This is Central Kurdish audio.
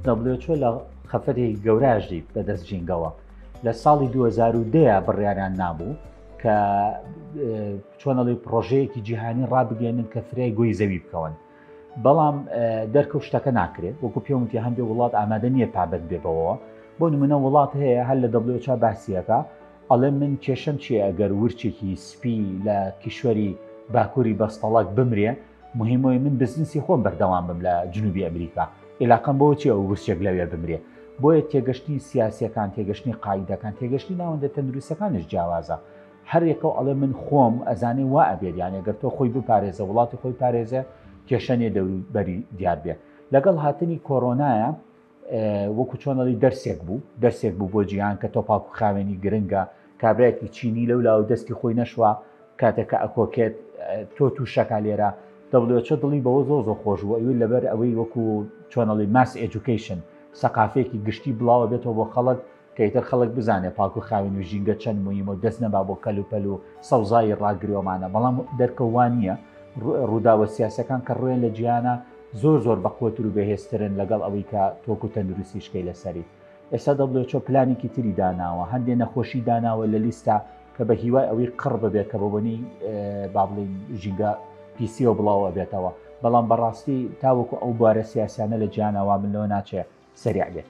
WHO لە خەفەتێکی گەوراژی بەدەست جینگەوە لە ساڵی 2010 بڕیاریان نابوو کە چۆنەڵی پرۆژەیەکی جیهانی ڕابگەێنن کە فرای گوی زەوی بکەون بەڵام دەرکەوت شتەکە ناکرێت وەکو پێوتی هەندێک وڵات ئامادە نییە پابند بێ بەوەوە بۆ نمونە وڵات هەیە هەر لە دەبلۆچا باسیەکە ئەڵێ من کێشم چیە ئەگەر ورچێکی سپی لە کیشوەری باکووری بەستەڵک بمرێ مهمەوەی من بزنسی خۆم بەردەوام بم لە جنوبی ئەمریکا عێلاقم بۆ چێ و گوسچێک لەوێ بمرێ بۆیە تێگەشتنی سیاسەکان تێگەشتنی قاعدەکان تێگەشتی ناوەندە تەندروستەکانش جیاوازە هەرێکە و ئەڵێ من خۆم ئەزانێ وا ئەبێت یانە گەر تۆ خۆی بپارێزە وڵاتی خۆی پارێزە کێشەنێ دەوری بەری دیار بێ لەگەڵ هاتنی کۆرۆنایە وەکو چۆنەڵی دەرسێک بوو دەرسێک بوو بۆ جیهان کە تۆپاک و خاوێنی گرنگە کابراایکی چینی لەو لاو دەستی خۆی نەشوە کاتێکە ئەکۆکێت تۆ تووشەکە لێرە دەڵێچە دڵی بەوە زۆ زۆ خۆش بوو ئەوی لەبەر ئەوەی وەکو چۆنەڵی ماس ئەجوکیشن سەقافێکی گشتی بڵاوە بێتەوە بۆ خەڵک کە ئیتر خەڵک بزانێ پاک و خاوێن و ژینگە چەند مویمە و دەست نەبا بۆ کەل و پەل و سەوزایی ڕاگرێومانە بەڵام دەرکە وا نییە ڕووداوە سیاسەکان کە ڕوێن لە جیانە زۆر زۆر بەقوەتر و بەهێزترن لەگەڵ ئەوەی کە تۆک و تەندروستی شکەی لەسەری ئێستا دەبلێچۆ پلانێکی تری داناوە هەندێ نەخۆشی داناوە لە لیستا کە بە هیوای ئەوەی قڕ ببێت کە بەبنی بابلین ژینگە پیسیەوە بڵاوە بێتەوە بەڵام بەڕاستی تاوەکو ئەو بارە سیاسیانە لە جیانەوە من لەوە ناچێت سریع بێت